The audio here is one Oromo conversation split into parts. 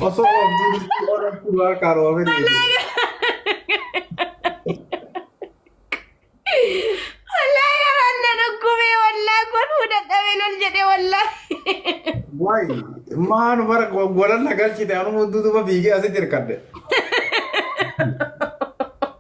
Osoo oolchuun oolatti waan karoofin. Wallaahi garaan na dhukkubee wallaahi kun fudhadhamee lol jedhee wallaahi. Waay maanu bara golan na galchite anuma duuba fiigee asitti hirkadde.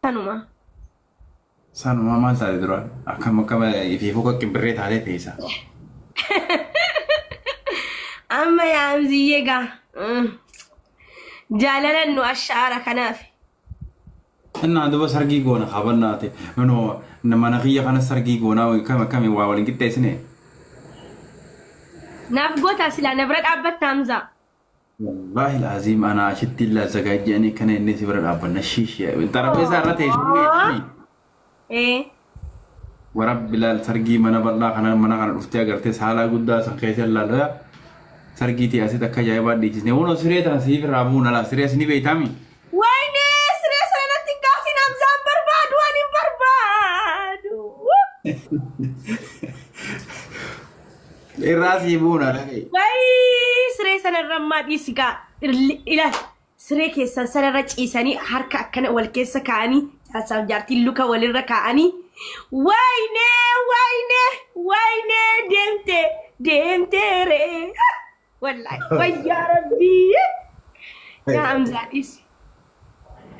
Sanuma. Sanuma maal taate duraan? Akkam akkam ifiifuu qaqqibirree taatee teessa. Amma yaamziyyee gaa. Mm. Jaalalan nu ashaara kanaaf. Innaan duba sargii goona kabannaati. Nunoo mana kiyya kana sargii goonaa akkam akkami waa waliin qixxeessine. Naaf gootaa silaa na bira dhaabbatta Hamzaa. Wallaahi laaziim anaa ashitti illaa zagaajjii ani kana inni si bira dhaabbanna shiishi xarapheesaa irra teessumni jedhanii Ee. warabbi laal sargii mana bal'aa kana mana kana dhuftee agartee saalaa guddaa san keessa ilaalaa sargii tee asitti akka ajaa'ibaa dhiichisne kunoo siree tana siif irraa buuna laa siree asini beeytaami Wayne siree sana natti hin kaasin Hamzaan barbaadu ani hin barbaadu. Irraa sii buuna dhaga'i. Wayii siree sanarra ammaa dhiisi gaa Irli- ila siree keessan sanarra ciisanii harka akkana wal keessa kaa'anii jaarsaaf jaartiin luka walirra kaa'anii waayinee waayinee waayinee deemte deemteere wallaahi wayyaa rabbii yaa hamzaa dhiisi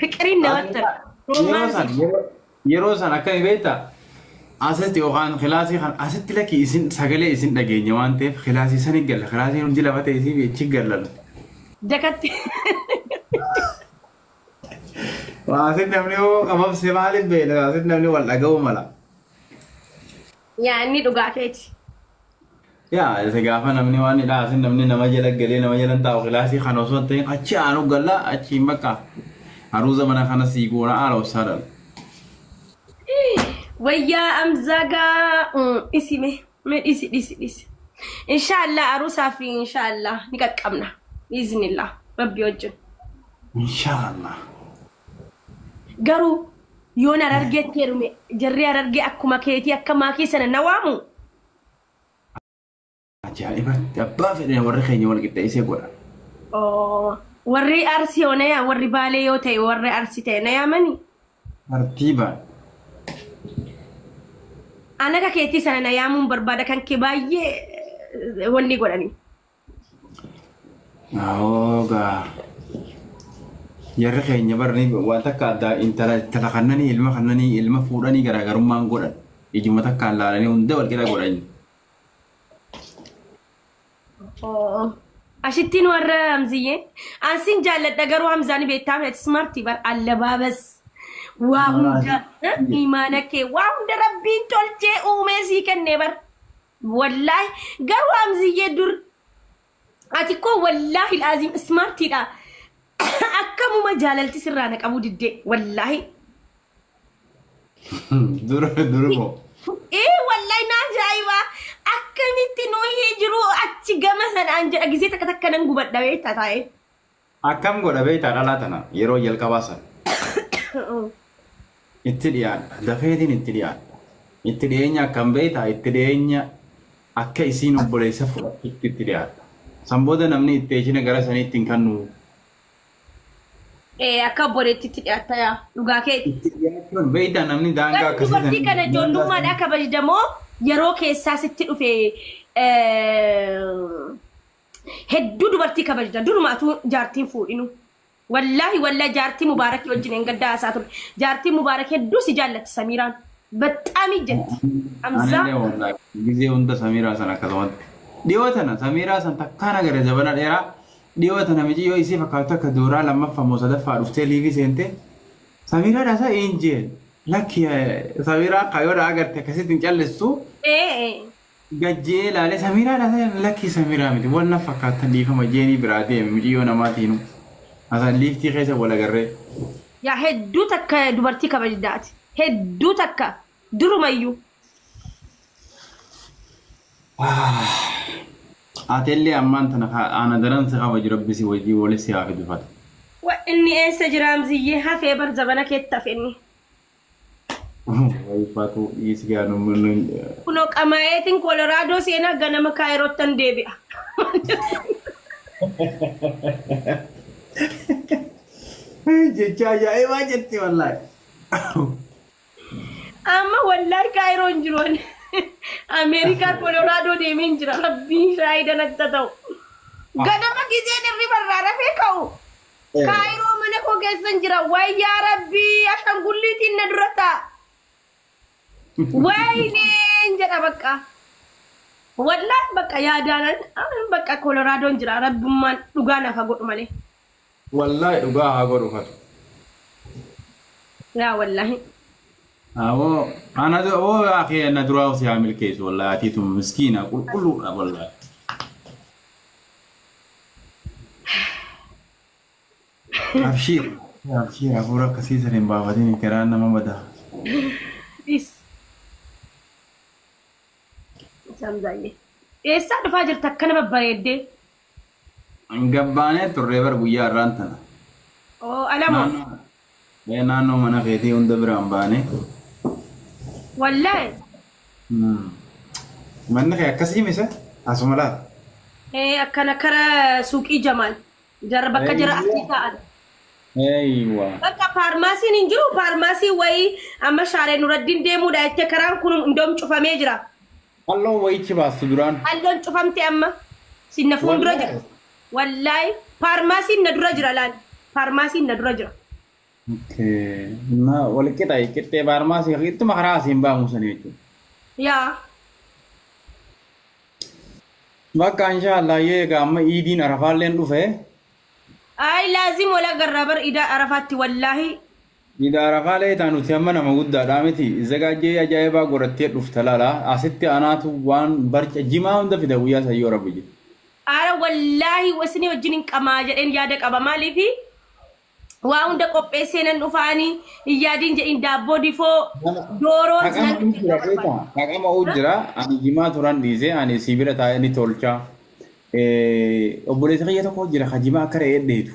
fiqiriin namatti tola. Yeroo san Romaansi. yeroo- Yeroo san akkami beektaa? Asitti yookaan kilaasii kan asitti lakki isin sagalee isin dhageenya waan ta'eef kilaasii san hin galla. Kilaasiin hundi lafa ta'e isiif achi galla. Jakatti. Waa asitti namni yoo qabamse maaliif beekna? Asitti namni wal dhaga'uu mala. Yaa inni dhugaa keeti. Yaa isa gaafa namni waan hidhaa asin namni nama jala galee nama jala taa'u kilaasii kan osoo hin ta'in achi aanu galla achi hin bakka haruuza mana kana sii goona haala obsaa dhala. Wayyaa amzagaa mm, dhisi me me dhisi dhisi dhisi. Inshaallah aruusaa fi inshaallah ni qaqqabna. Biiznillah rabbi wajjin. Inshaallah. Garuu yoon harargeetti heerume jarri harargee akkuma keetii akka maakii sana na waamu. Ajaa'ibatti abbaa fedhe warri keenya wal qixxeessee godha. Oo, Warri arsii hoo na yaa warri baalee yoo ta'e warri arsii ta'e na yaamani. Tartiibaan. An akka keetii sana na yaamuun barbaada kan kee baay'ee eh, wanni godhani. Hoogaa. Jarri keenya barni waan takka addaa intala intala kannanii ilma kannanii ilma fuudhanii garaagarummaan godhan ijuma takkaan laalanii hunda wal qixa godhan. Oo. Ashittiin warra Hamziyyee. Ansin jaalladha garuu Hamzaan beektaa miti smartii bar allabaabas. Waa hunda eh, imaana kee waa hunda rabbiin tolchee uumee sii kennee bar. Wallaahi garuu Hamziyyee dur ati koo wallaahi laaziim ismaartiidha. Akkamuma jaalalti sirraa na qabuu diddee wallaahi. Dura dura moo. Ee wallaahi naa ajaa'iba akkamitti nuyi jiruu achi gama sanaan jedha gisee takka takka nan gubadha beektaa taa'ee. Akkam godha beektaa dhalaa tana yeroo jalqabaa san. Itti dhiyaadha. Dafeetiin itti dhiyaadha. Itti dhiyeenya akkam beektaa itti dhiyeenya akka isiin obboleessa fudhattutti itti dhiyaadha. San booda namni itti eeshina gara saniitti hin kannu. Ee akka obboleettiitti dhiyaatta yaa dhugaa keeti. Itti dhiyaachuun beektaa namni daangaa Garuu akkasii dubartii kana daangaa ijoollummaadhaa kabajdamoo yeroo keessaa sitti dhufe eh, Hedduu dubartii kabajdan duruma atuu jaartiin fuudhinu. Wallaahi wallaahi jaartii mubaarakii wajjin hin gaddaa haasaa ture. Jaartiin mubaarak hedduu si jaallatti samiiraan. Baxxaamii jetti. Hamzaa. Anillee wallaahi gizee hunda samiiraa san akkasumatti. Dhiyoo tana samiiraa san takkaan agarre zabana dheeraa dhiyoo tana miciyyoo isii fakkaatu takka duuraa lammaffaa moo sadaffaa dhuftee liivii seentee samiiraa dhaasaa hin jeen lakki samiiraa kayoodhaa agarte akkasitti hin callistuu Ee. gad je'ee laalee samiraadha se'een lakkii samiraa miti wal na fakkaattan dhiifama je'eenii biraa deeme miciyyoo namaatiinu hasan liiftii keessa wal agarree. Yaa hedduu takka dubartii kabajdaa ati hedduu takka durumayyuu. Ati illee ammaan tana ka ana daran si kabaju rabbi si wajjin wali si haa fidu fata. Wa inni eessa jira Amziyyee hafee bar zabana keetti hafe inni. Ulfaatuu dhiisi gaana uummanni hin jedha. Kunoo qamaayeetiin Kolorado seenaa ganama Kaayirottan deebi'a. Jecha ajaa'ibaa jetti wallaahi. Amma wallaahi Kaayiroo hin jiru ani. Ameerikaa Kolorado deemee hin jira. Rabbiin shaayidan akka ta'u. Ganama gizeen irriba irraa rafee ka'u. Kaayiroo mana koo keessan jira. Wayyaa rabbii ashangulliitiin na dura ta'a. Wayneen jedha bakka. Wallaah bakka yaadaanan anan bakka koloraadoon jira rabbummaan dhugaa naaf haa godhu malee. Wallaahi dhugaa haa godhu fatu. Yaa wallaahi. Amoo ana dura oo yaa kee na duraa si haa milkeessu wallaahi atiitu miskiina qulqulluudha wallaahi. Abshiir abshiir hafuura akkasii san hin baafatin garaan nama bada. Dhis. Isaan baay'ee. Eessaa dhufaa jirta akkana babbareeddee? Gabbaanee turree bar guyyaa irraan tana. Oo alamoo. Naannoo Mee naannoo mana keetii hunda bira hin baane. Wallahi. Hmm. Manni kee akkasii mise asuma laata? Ee akkana kara suuqii Jamaal. Jarra bakka jara asii ta'an. Eeywa. Bakka faarmaasiin hin jiru faarmaasii wayii amma shaaree nuraddiin deemuudha jettee karaan kun hundoom cufamee jira. Qalloon wayichi baastu duraan. Qalloon cufamte amma. Sin na fuuldura Wallahi. jirti. Wallaahi. Paarmaasiin na dura jira laal. Paarmaasiin na dura jira. Okay. Ma wal qixa qixxee baarmaasii ittuma karaa asiin baamu sana jechuudha. Yaa. Bakka inshaallah yoo egaa amma iidiin arafaalleen dhufe Ayi laazim wal agarraa bar idaa arafaatti wallaahi Gidaara kaa leeytaa nuti hamma nama guddaadhaa miti izzagaajjee ajaa'ibaa godhattee dhufta lala asitti anaatu waan barca jimaa hunda fida guyyaa san yoo rabbi jedhe. Ara wallaahi isinii wajjin hin qamaa jedheen yaada qaba maaliifi waa hunda qopheessee nan dhufaa ani hin yaadiin jedhiin daabboo difoo dooroo Haqama nan uu jira beeta haqama uu jira ani jimaa turan dhiise ani sii bira taa'ee ni tolcha obboleessa kiyya tokko jira ka jimaa akka re'ee dheedu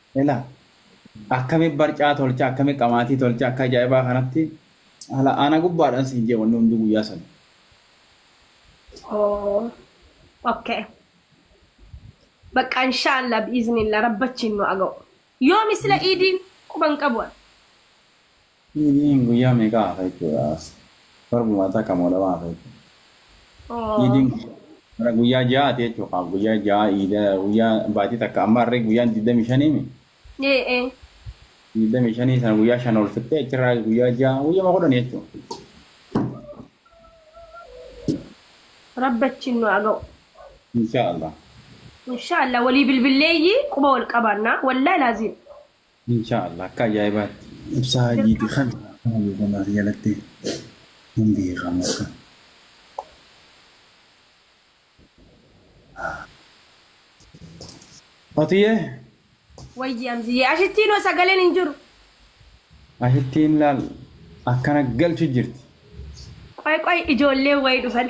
Ilaa akkami barcaa tolcha akkami qamaatii tolcha akka ajaa'ibaa kanatti ala ana gubbaadhan siin jee wanni hunduu guyyaa san. Oh okay Baqqaa inshaallaa bi'iznillah rabbachiin nu aga'u yoomi sila iidiin quban qabu an. Iidiin guyyaa meeqa hafa jechuudha as torbuma takka moo lama hafa jechuudha. Oo. Iidiin bara guyyaa ja'aati jechuudha kaa guyyaa ja'a iida guyyaa baatii takka amma harree guyyaan digdamii shaniimi Ee ee. digdamii shanii sana guyyaa shan ol fixxee achirraa guyyaa ja'a guyyama kudhan jechuudha. Rabbi achiin nu haa ga'u. Inshaa Allah. Inshaa Allah walii bilbilleeyyii quba wal qabaannaa. Wallaahi laaziim. Inshaa Allah akka ajaa'ibaatti. Ibsaa hajiiti kan maaloo kan as jalatti hin beekamu akka. Fatiyee. Wayyi Amziyyee ashittiin hoo sagaleen hin jiru. Ashittiin laal akkana galchu jirti. Qoy qoy ijoolleen wayi dhufan.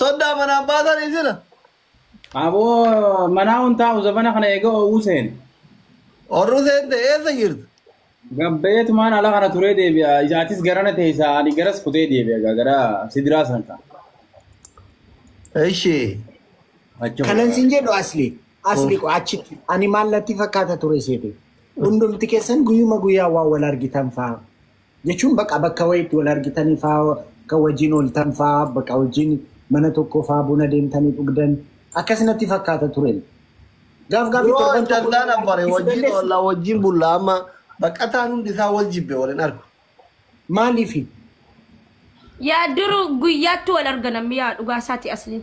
Soddaa manaan baasan isina. Aboo manaa hun taa'u zabana kana eega oowwuu seene. Orru seente eessa jirtu? Gabbeetumaan ala kana turee deebi'a. Isaatis garana teessa ani garas kutee deebi'a egaa gara sidiraa san ta'a. Ishi. Achi Kanan sin jedhu asli. Asli ko achitti. Ani maal natti fakkaata ture seete. Hundumti keessan guyyuma guyyaa waan wal argitan fa'aa jechuun baqa bakka wayiitti wal argitanii fa'aa kan wajjin ooltan fa'aa baqa wajjin mana tokko fa'aa buna deemtanii dhugdan akkas natti fakkaata ture. Gaaf gaafii Bro torban tokko callaan abbare ibsu wajjin dandeessu. olla wajjin bulla amma baqataan hundi isaa wal jibbe wal hin argu. Maaliifi? Yaa duru guyyaatti wal arganammi yaa dhugaa isaati asliin.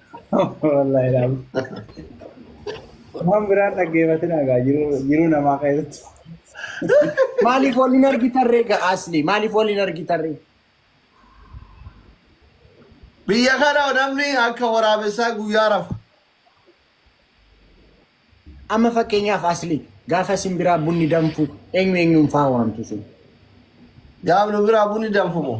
Wallahi laal. Waan biraan dhaggeeffatin egaa jiruu jiruu namaa keessatti. Maaliif wal hin argitarree ga asli? Maaliif wal hin argitarree? Biyya kana namni akka waraabessaa guyyaa rafa. Amma fakkeenyaaf asli gaafa isin biraa bunni danfu eenyu eenyuun faa waamtu sun? Gaaf nu biraa bunni danfumoo?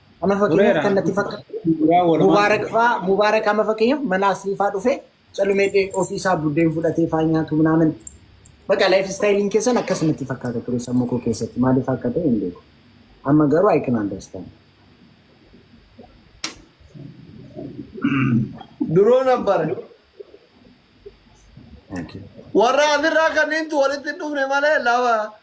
Kana fakkeenyaaf kan natti fakkaatu Mubaarak faa Mubaarak amma fakkeenyaaf mana asrii faa dhufee calumee dhee ofii isaa buddeen fudhatee faa nyaatu minaamin. Bakka laayif istaayiliin keessan akkas natti fakkaata ture sammuu koo keessatti maaliif akka ta'e hin beeku. Amma garuu I can understand. Duroo nabbare. Thank you. Warra asirraa kanneentu walitti hin dhufne malee lafa